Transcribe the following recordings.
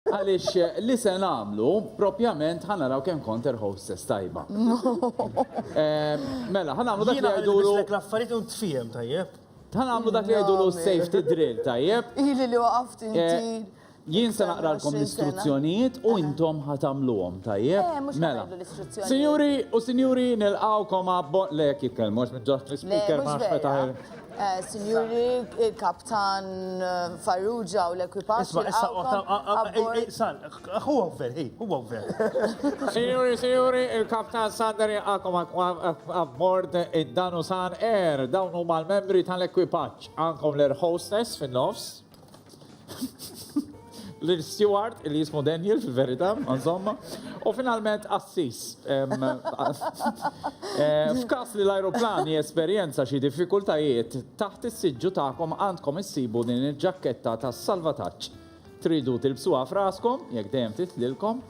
Għaliex li se nagħmlu, propjament ħa naraw kemm kont her hostess tajba. Mela, ħa nagħmlu dak li jgħidulu. Jiena ħa l-affarijiet u ntfiehem tajjeb. Ħa nagħmlu dak li jgħidulu safety drill tajjeb. Ili li waqaft inti. Jien se naqralkom l-istruzzjonijiet u intom ħa tagħmluhom tajjeb. Mela. Sinjuri u sinjuri nilqgħukom għal le jekk jitkellmu għax minn ġoħ l-ispikar ma nafx meta. Sinjuri, il-kaptan Farrugia u l-ekwipaġġ. Isma, issa, San, huwa gver, hi, huwa gver. Sinjuri, sinjuri, il-kaptan Sander jaqakom abbord id-Danu San Air, dawn huma l-membri tal-ekwipaġġ. Għankom l-air hostess fin-nofs. l-Steward, li jismu Daniel fil-verità, insomma, u finalment Assis. Eh, f'każ li l-ajruplan jesperjenza xi diffikultajiet, taħt is-siġġu tagħkom għandkom issibu din il-ġakketta tas-salvataġġ. Tridu tilbsuha f'raskom, jekk dejjem titlilkom,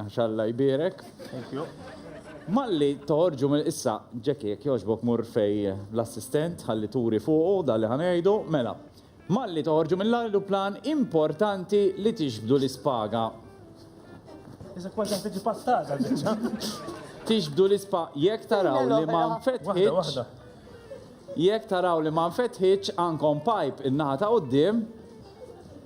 Għax Alla jbierek. Thank you. Malli toħorġu mill issa Ġeki jekk jogħġbok mur fej l-assistent ħalli turi fuqu dan li ħanejdu, mela. Malli toħorġu mill-ajruplan importanti li tixbdu l-ispaga. Iżek kważi qed tiġi pattata biċċa. Tixbdu l-ispa jekk taraw li ma nfetħitx. Jekk taraw li ma nfetħitx għandkom pipe in-naħa ta' quddiem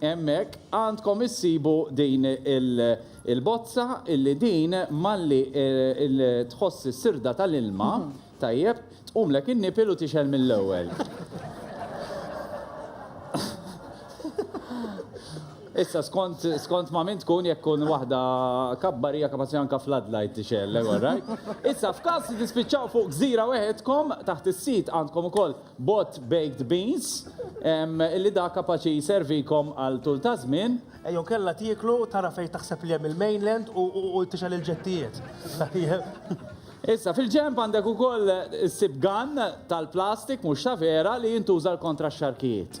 Hemmhekk għandkom issibu din il-bozza illi din malli tħoss is-sirda tal-ilma, tajjeb, tqumlek in-nipil u tixgħel mill-ewwel. Issa skont ma' min tkun jekk tkun waħda kabbar hija kapaċi anke floodlight tixgħel, alright? Issa f'każ li tispiċċaw fuq gżira weħedkom, taħt is-sit għandkom ukoll Bot baked beans, li dak kapaċi jservikom għal tul ta' żmien. Jew kellha tieklu u tara fejn taħseb li hemm il-mainland u tixgħel il-ġettijiet. Tajjeb. Issa, fil-ġenb għandek ukoll issib gun tal-plastik, mhux ta' vera, li jintuża l-kontra x-xarkijiet.